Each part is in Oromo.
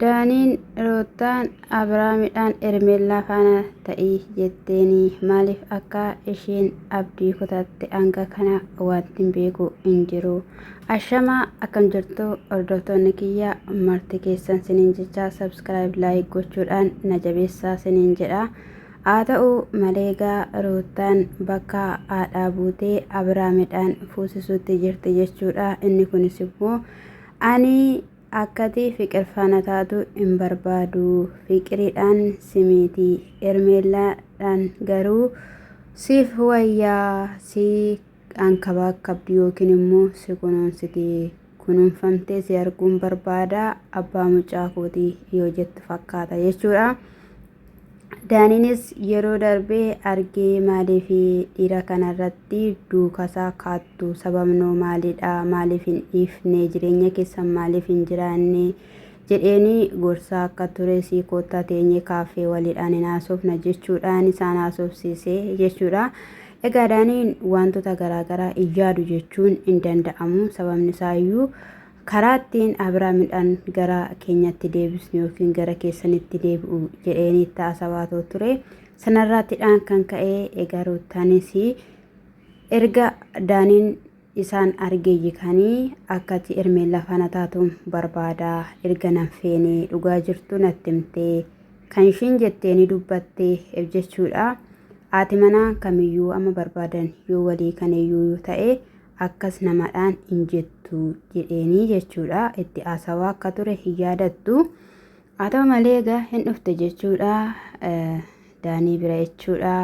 Daaniin Ruuttaan, Abrahaamidhaan Hermeellaa faana ta'i jetteeni. Maaliif akka isheen abdii kutatte hanga kana wanti hin beeku hin jiru. Ashamaa akkam jirtu hordoftoonni kiyya marti keessan siniin jecha subscribe like gochuudhaan na jabeessaa siniin jedha. Haa ta'u malee gaa Ruuttaan bakka haadhaa buutee Abrahaamidhaan fuusisuutti jirti jechuudha. Inni kunis immoo ani Akkatii fiqir faana taatu hin barbaadu fiqiridhaan simiiti ermeellaa dhaan garuu siif wayyaa si ankabaakkabdi yookiin immoo si kunuunsiti kunuunfamtee si arguun barbaada abbaa mucaa kooti yoo jettu fakkaata jechuudha Daaniinis yeroo darbe argee maaliif dhiira kanarratti duukasaa kaattu sababnoo maalidha maaliif hin dhiifne jireenya keessan maaliif hin jiraanne jedheeni gorsaa akka ture sii koottaa teenyee kaaffee waliidhaan hin haasofna jechuudhaan isaan haasofsiise jechuudha. Egaa daaniin wantoota garaagaraa hin yaadu jechuun hin danda'amu sababni isaayyuu Karaa ittiin Abira midhaan gara keenyatti deebisnu yookiin gara keessanitti deebi'u jedheen itti haasawaatoo ture. Sanarraattidhaan kan ka'e egaa Ruuttaanis erga Daaniin isaan argeeyyi kanii akkati ermeen lafaana taatuun barbaada erga nan feenee dhugaa jirtu natti himtee kan ishiin jettee ni dubbatte ef jechuudha. Haati manaa kamiyyuu amma barbaadan yoo walii kaneeyyuu ta'e akkas namadhaan hin jettu jedheenii jechuudha. Itti haasawaa akka ture hin yaadattu. Haa ta'u malee egaa hin dhufte jechuudha. Daanii bira jechuudha.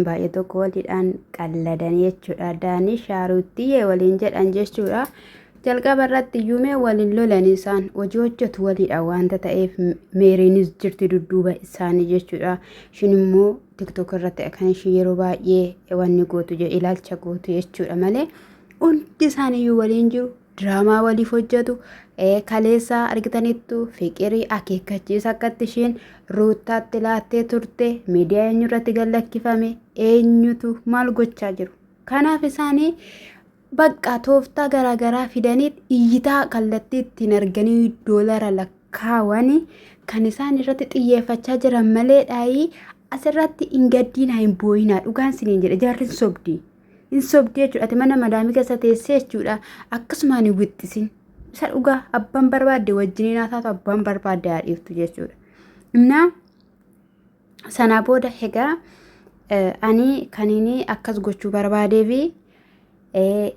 Baay'ee tokko waliidhaan qalladan jechuudha. Daanii shaaruuttiyee waliin jedhan jechuudha. Jalqaba irratti yuumee waliin lolan isaan hojii hojjetu waliidha wanta ta'eef meeriinis jirti dudduuba isaanii jechuudha. Ishiin immoo tiktok irratti akkan ishii yeroo baay'ee wanni gootu je- ilaalcha gootu jechuudha malee hundi isaaniiyyuu waliin jiru diraamaa waliif hojjetu eh, kaleessaa argitaniittu fiqirii akeekkachiisa akkatti isheen ruuttaatti laattee turte miidiyaa eenyu irratti gallakkifame eenyutu maal gochaa jiru kanaaf isaanii bakka tooftaa garaagaraa fidanii iyyitaa kallattii ittiin arganii doolara lakka kaawan kan isaan irratti xiyyeeffachaa jiran maleedhaayii asirratti hin gaddiinaa hin booyinaa dhugaan siniin jedhe jaarri hin sobdi hin sobdi jechuudha ati mana madaamii keessa teessee jechuudha akkasumaan hin wixxisin isa dhugaa abbaan barbaadde wajjiniin haa taatu abbaan barbaadde haa dhiiftu jechuudha innaa Sanaa booda egaa ani kaniin akkas gochuu barbaadee fi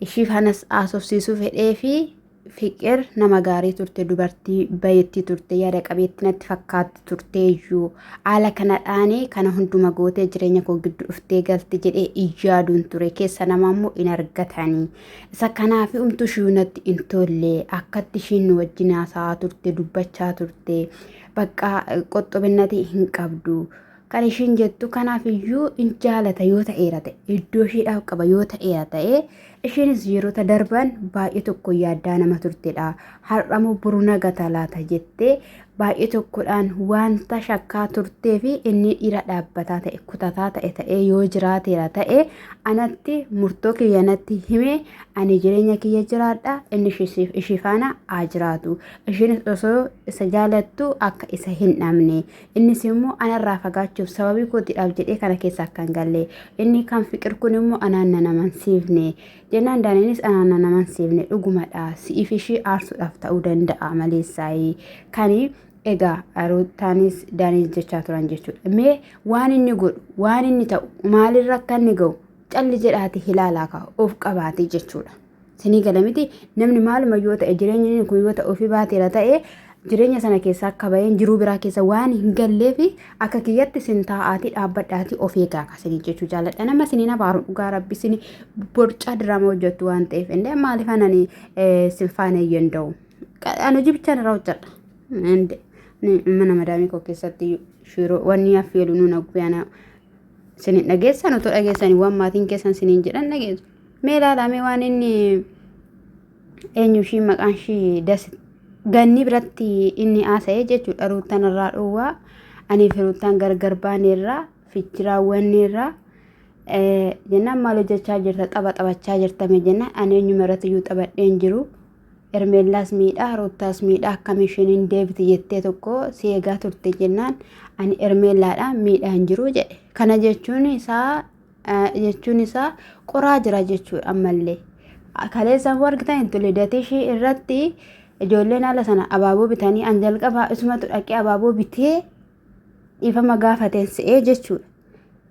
ishii fanas haasofsiisuu fedhee fi fiqir nama gaarii turte dubartii bayeetti turte yaada qabeetti natti fakkaatti turte iyyuu haala kanadhaan kana hunduma gootee jireenya koo gidduu dhuftee galte jedhee iyyaaduun ture keessa nama immoo hin argatanii isa kanaaf umtu ishii natti hin tolle akkatti ishiin nu wajjin haasa'aa turte dubbachaa turte bakka qoxxobinnati hin qabdu kan ishiin jettu kanaaf iyyuu in jaalata yoo ta'eera ta'e iddoo ishiidhaaf qaba yoo ta'eera ta'e ishiinis yeroota darban baay'ee tokko yaaddaa nama turtedha har'amoo buru nagata laata jettee baay'ee tokkodhaan wanta shakkaa turtee fi inni dhiira dhaabbataa ta'e kutataa ta'e ta'ee yoo jiraateera ta'e anatti murtoo kiyyanatti hime ani jireenya kiyya jiraadha inni ishii faana haa jiraatu Isheenis osoo isa jaalattu akka isa hin dhabne innis immoo anarraa fagaachuuf sababii kootiidhaaf jedhee kana keessa akka hin galle inni kan fiqir kun immoo anaan nan amansiifne jennaan daaniinis anaan nan amansiifne dhugumadha si'iif ishii aarsuudhaaf ta'uu danda'a maleessaayii kani egaa ruutaanis daaniis jechaa turan jechuudha mee waan inni godhu waan inni ta'u maalirra akka inni ga'u calli jedhaati hilaalaa kaa'u of qabaate jechuudha. Sinii gala miti namni maaluma yoo ta'e jireenyi kun yoo ta'e ofii baateera ta'e jireenya sana keessaa akka baheen jiruu biraa keessa waan hin galleef akka kiyyatti sin taa'aatii dhaabbadhaatii of eegaa kasinii jechuu jaaladha nama siniin abaaru dhugaa rabbi sini borcaa diraama hojjettu waan ta'eef indee maaliif anani sin faana hin danda'u an hojii bichaan irraa hojjedha indee mana madaamii koo keessatti shiroo wanni affeelu nuun agguyana sinin dhageessan otoo dhageessanii waan maatiin keessan sinin jedhan dhageessu Mee ilaalaa mee waan inni eenyu ishii maqaan ishii das ganni biratti inni haasa'e jechuudha ruuttan irraa dhowwaa anii fi ruuttan gargar baaneerraa fichi raawwanneerraa jennaan maal hojjechaa jirta tapha taphachaa jirtame jennaan ani eenyuma irratti iyyuu taphadheen jiru ermeellaas miidhaa ruuttaas miidhaa akkam isheen hin deebiti jettee tokko si eegaa turte jennaan ani ermeellaadha miidhaa hin jiru jedhe kana jechuun isaa jechuun isaa qoraa jira jechuudha ammallee. Kaleessaan hoo argitan hin tole dateeshii irratti ijoolleen haala sana abaaboo bitanii an jalqabaa isumatu dhaqee abaaboo bitee dhiifama gaafateen se'ee jechuudha.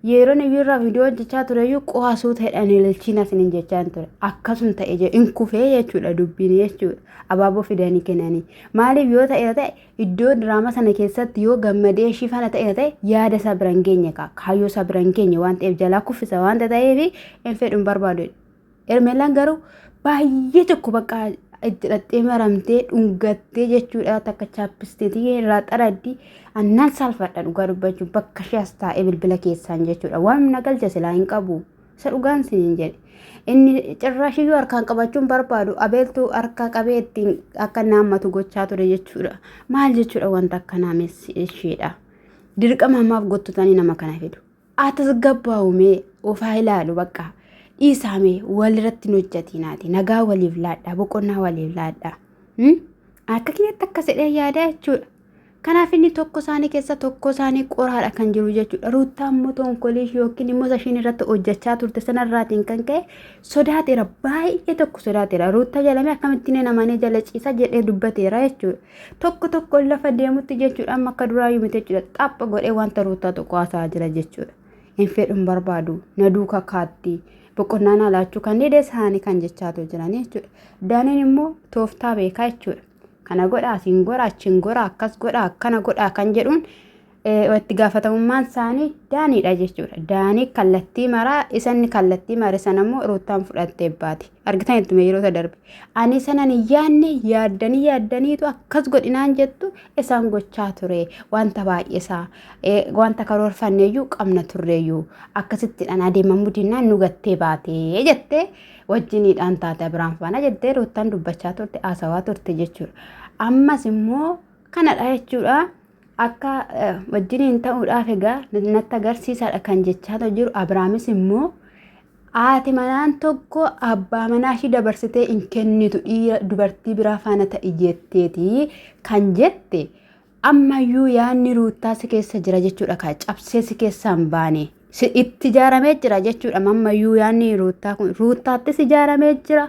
Yeroo inni irraa viidiyoo hojjechaa ture iyyuu qo'aa suuta hidhanii ililchiin asin hin jechaa ture. Akkasuma ta'e hin kufee jechuudha dubbiin jechuudha. Abaaboo fidanii kennanii. Maaliif yoo ta'e ta'e Iddoo diraama sana keessatti yoo gammadee ishii fana ta'e ta'e yaada isaa bira hin geenye kaa kaayyoo isaa bira hin geenye waan ta'eef jalaa kuffisa waan ta'eef hin fedhu hin barbaadu. Ermeelaan garuu baay'ee tokko bakka itti dhattee maramtee dhungattee jechuudha takka chaappisteetii irraa xaraddi annaan saalfadha dhugaa dubbachuun bakka ishee as taa'ee bilbila keessaan jechuudha waan na galcha silaa hin qabu. Isa dhugaan siniin jedhe. Inni cirraashiyyuu harkaan qabachuun barbaadu abeeltuu harka qabee ittiin akka naammatu gochaa ture jechuudha. Maal jechuudha wanta akkanaa messi isheedha. Dirqama ammaaf gottotanii nama kana fidu. Atis gabbaa'umee ofaa ilaalu bakka. Dhiisaamee walirratti hin hojjatinaati. Nagaa waliif laadhaa boqonnaa waliif laadhaa. Akka kiyyatti akka sedhee yaadaa jechuudha. Kanaaf inni tokko isaanii keessa tokko isaanii qoraadha kan jiru jechuudha. Ruuttaan immoo tonkolii yookiin immoo ishiin irratti hojjechaa turte sanarraatiin kan ka'e sodaateera. Baay'ee tokko sodaateera. Ruuttaa jedhamee akkamittiin hin amanee jala ciisa jedhee dubbateera jechuudha. Tokko tokko lafa deemutti jechuudha amma akka duraa yuu miti jechuudha. Xapha godhee wanta ruuttaa tokko haasa'aa jira jechuudha. Hin fedhun barbaadu. Na duuka kaatti. Boqonnaa naa laachuu kan dide isaanii kan jechaatu jiranii jechuudha. Daaniin immoo tooftaa beekaa jechuudha. Kana godha asiin gora achiin gora akkas godha akkana godha kan jedhuun itti gaafatamummaan isaanii daaniidha jechuudha. Daanii kallattii maraa isanni kallattii mare sana immoo ruuttaan fudhattee baati. Argitan ittuma yeroo isa darbe. Ani sanan hin yaadne yaaddanii yaaddaniitu akkas godhinaan jettu isaan gochaa ture wanta baay'isaa wanta karoorfanneeyyuu qabna turreeyyuu akkasittidhaan adeemamu dinnaan nu gattee baatee jettee wajjiniidhaan taate Abiraam faana jettee Ruuttaan dubbachaa turte haasawaa turte jechuudha. Ammas immoo kanadha jechuudha. Akka wajjiniin ta'uudhaaf egaa natti agarsiisaadha kan jechaa jiru Abiraamis immoo haati manaan tokko abbaa manaa ishii dabarsitee hin kennitu dhiira dubartii biraa faana ta'i jetteeti kan jette Ammayyuu yaadni ruuttaa si keessa jira jechuudha kaa cabsee si keessaa hin baane. Si itti ijaaramee jira jechuudha ammayyuu yaadni ruuttaa kun ruuttaattis ijaaramee jira.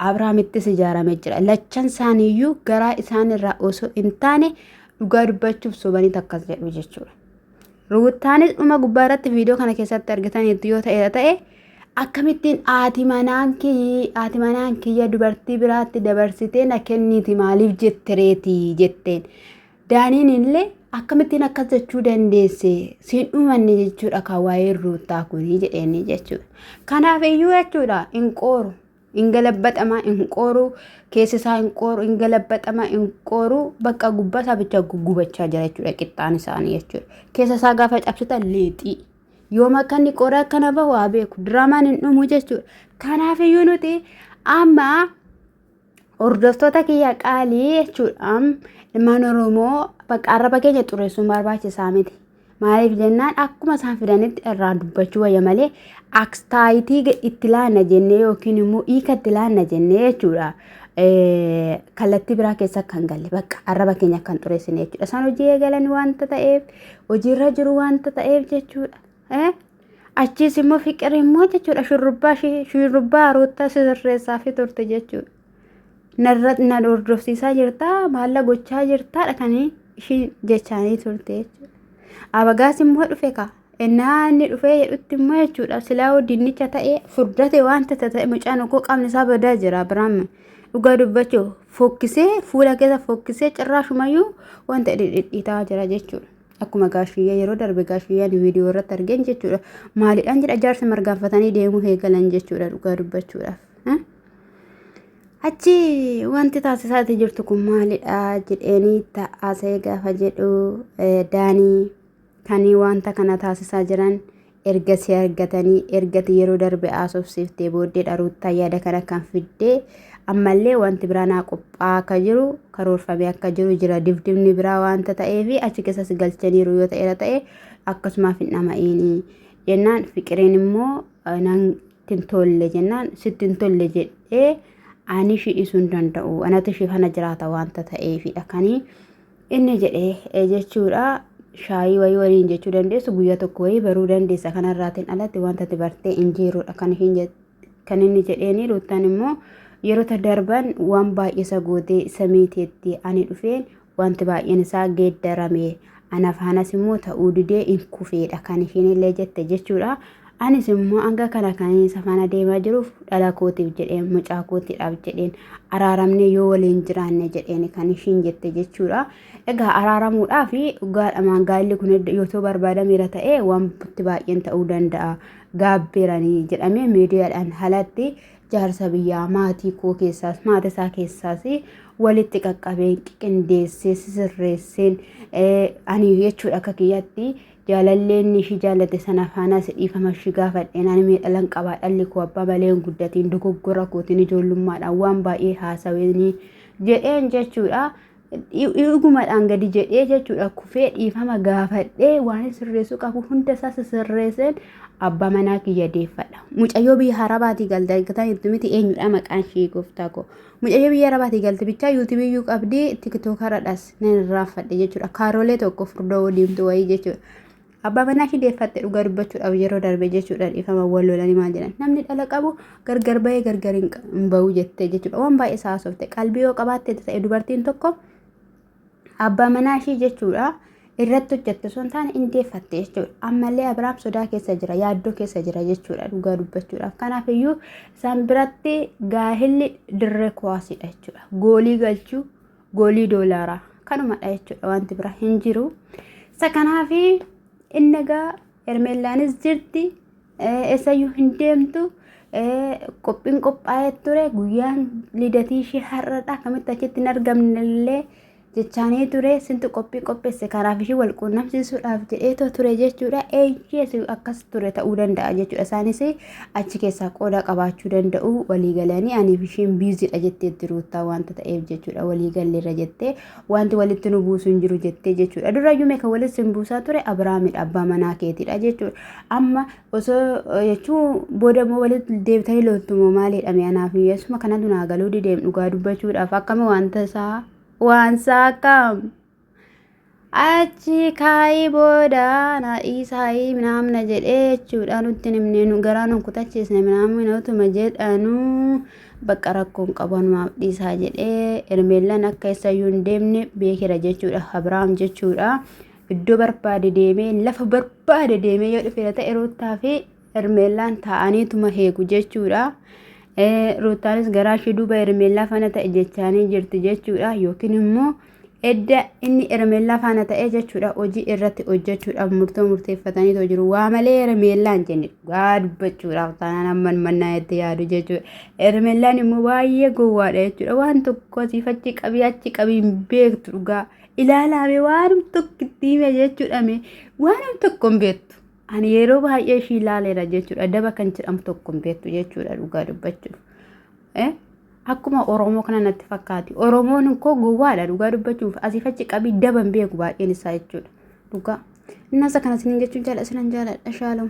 Abraamittis ijaaramee jira. Lachan isaaniiyyuu garaa isaanirraa osoo hin taane dhugaa dubbachuuf sobanii takkas jedhu jechuudha. Ruuttaanis dhuma gubbaa irratti viidiyoo kana keessatti argitaniitu yoo ta'eera ta'e akkamittiin haati manaan kiyyi haati manaan kiyya dubartii biraatti dabarsitee na kenniiti maaliif jette reeti jetteen. Daaniin illee akkamittiin akkas jechuu dandeesse siin dhumanne jechuudha kan waa'ee ruuttaa kuni jedheenii jechuudha. Kanaaf iyyuu jechuudha hin qooru. hin galabaxama hin qooru keessa isaa hin qooru hin galabaxama hin qooru bakka gubbaa isaa bicha gubachaa jira jechuudha qixxaan isaanii jechuudha keessa isaa gaafa cabsita leexii yoo makkanni qoora akkana bahu haa beeku diraamaan hin dhumu jechuudha kanaaf iyyuu nuti amma hordoftoota kiyya qaalii jechuudha ilmaan oromoo bakka arraba keenya xureessuun barbaachisaa miti Maaliif jennaan akkuma isaan fidanitti irraa dubbachuu wayya malee akstaayitii itti laanna jennee yookiin immoo hiika itti laanna jennee jechuudha. Kallattii biraa keessa kan galle bakka arraba keenya kan xureessine jechuudha. Isaan hojii eegalan wanta ta'eef hojiirra jiru wanta ta'eef jechuudha. Achiis immoo fiqir immoo jechuudha shurrubbaa shurrubbaa roottaa sirreessaa fi turte jechuudha. narra na hordofsiisaa jirtaa maalla gochaa jirtaadha kan ishiin jechaanii turte jechuudha. Abagaas immoo dhufe kaa ennaa inni dhufee jedhutti immoo jechuudha silaa dinnicha ta'ee furdate waan tata ta'e mucaan okkoo qaamni isaa badaa jira Abiraam dhugaa dubbachuu fokkisee fuula keessa fokkisee cirraa shumayyuu wanta dhidhiitaa jira jechuudha. Akkuma gaashiyyaa yeroo darbe gaashiyyaan viidiyoo irratti argeen jechuudha. Maalidhaan jedha jaarsa margaanfatanii deemuu eegalan jechuudha dhugaa dubbachuudhaaf. Achi wanti taasisaati jirtu kun maalidha jedheenii ta'aasa'ee gaafa jedhu daanii kan wanta kana taasisaa jiran erga si argatanii ergati yeroo darbe haasofsiiftee booddeedha ruuttaa yaada kana kan fiddee ammallee wanti biraa naa qophaa akka jiru karoorfamee akka jiru jira dibdibni biraa wanta ta'ee fi achi keessas galchaniiru yoo ta'eera ta'e akkasumaaf hin dhama'iinii jennaan fiqireen immoo sitti hin tolle jennaan sitti hin tolle jedhee ani ishii dhiisuu hin danda'u anatu ishii kana jiraata wanta ta'eefidha kanii inni jedhee jechuudha shaayii wayii waliin jechuu dandeessu guyyaa tokko wayii baruu dandeessa kanarraatiin alatti wanta ati bartee hin jiruudha kan ishiin jette kan inni jedheeni ruuttaan immoo yerota darban waan baay'isa gootee isa miiteetti ani dhufeen Wanti baay'een isaa geeddarame. Ana faanas immoo ta'uu didee in kufeedha kan ishiin illee jette jechuudha. Anis immoo hanga kana kan isa faana deemaa jiruuf dhala kootiif jedheen mucaa kootiidhaaf jedheen araaramnee yoo waliin jiraanne jedheen kan ishiin jette jechuudha. Egaa araaramuudhaaf dhugaadhamaan gaa'illi kun yoo barbaadameera ta'e wanti baay'een ta'uu danda'a. Gaabbeeranii jedhamee miidiyaadhaan halatti jaarsa biyyaa maatii koo keessaas maata isaa keessaas walitti qaqqabeen qindeessee sisirreesseen ani jechuudha akka kiyyatti jaalalleen ishii jaallate sana faanaas dhiifama ishii gaafadheen ani miidhalan qabaa dhalli koo abbaa malee hin guddatiin dogoggora kootiin ijoollummaadhaan waan baay'ee haasaweenii jedheen jechuudha. Dhugumadhaan gadi jedhee jechuudha kufee dhiifama gaafadhee waan sirreessuu qabu hunda isaa sirreesseen abbaa manaa kiyya deeffadha. Mucayyoo biyya harabaatii galte argitan itti miti eenyudha maqaan ishee gooftaa koo. Mucayyoo biyya harabaatii galte bichaa yuutuubii iyyuu qabdii tiktookaradhas nan irraanfadhe jechuudha. Kaaroolee tokko furdoo diimtuu wayii jechuudha. Abbaa manaa ishii deeffatte dhugaa dubbachuudhaaf yeroo darbe jechuudha dhiifama wal lolanii maal jedhan namni dhala qabu gargar bahee gargar hin qa- hin bahu jettee jechuudha waan baay'ee isaa haasofte qalbii yoo qabaatte ta'e dubartiin tokko abbaa manaa ishii jechuudha irratti hojjette osoo hin taane hin deeffatte jechuudha ammallee abiraam sodaa keessa jira yaaddoo keessa jira jechuudha dhugaa dubbachuudhaaf kanaaf iyyuu isaan biratti gaahilli dirree kuwaasidha jechuudha goolii galchuu goolii doolaaraa kanumadha jechuudha wanti bira hin jiru. Isa kanaaf inni egaa Hermeellaanis jirti eessayyuu hin deemtu qophiin qophaa'ee ture guyyaan lidatii ishee har'adha akkamitti achitti hin argamnellee jechaanii ture sintu qophii qopheesse kanaaf ishee wal quunnamsiisuudhaaf jedheetoo ture jechuudha eeyyee akkas ture ta'uu danda'a jechuudha isaanis achi keessaa qooda qabaachuu danda'u walii galanii aniif isheen biiziidha jetteetti ruuttaa wanta ta'eef jechuudha walii galleerra jettee wanti walitti nu buusu hin jiru jettee jechuudha durayyuu meeqa walitti sin buusaa ture abiraamidha abbaa manaa keetiidha jechuudha amma osoo jechuu booda immoo walitti deebitanii looltumoo maaliidha mee anaaf miyyasuma kanatu naa galuu dideem dhugaa dubbachuudhaaf akkami wanta isaa waan isaa akkam. achi kaa'ii booda na dhiisaayii minaamna jedhee jechuudha nutti hin himne nu garaa nu kutachiisne minaamina utuma jedhanu bakka rakkoon qabu numaaf dhiisaa jedhee ermeellan akka eessayyuu hin deemne beekera jechuudha abrahaam jechuudha iddoo barbaade deemee lafa barbaade deemee yoo dhufeera ta'e ruuttaa fi Hermeellaan taa'aniituma heegu jechuudha. Ruuttaanis garaa ishee duuba Hermeellaa faana ta'e jechaanii jirti jechuudha. Yookiin immoo edda inni Hermeellaa faana ta'e jechuudha hojii irratti hojjechuudhaaf murtoo murteeffataniitoo jiru. Waa malee Hermeellaan jenne dhugaa dubbachuudhaaf taanaan amman mannaa itti yaadu jechuudha. Hermeellaan immoo baay'ee gowwaadha jechuudha. Waan tokko asiif achi qabii achi qabii hin beektu dhugaa. Ilaalaame waanum tokko itti hime jechuudha waanum tokko hin beektu. Ani yeroo baay'ee ishii laaleera jechuudha. Daba kan jedhamu tokko hin beektu jechuudha dhugaa dubbachuuf. Eh? Akkuma Oromoo kana natti fakkaati. Oromoon koo gowwaadha dhugaa dubbachuuf. Asiif achi qabii daba hin beeku baay'een isaa jechuudha. Dhugaa. Innasa kana sinin jechuun jaalladha sinan jaalladha shaalom.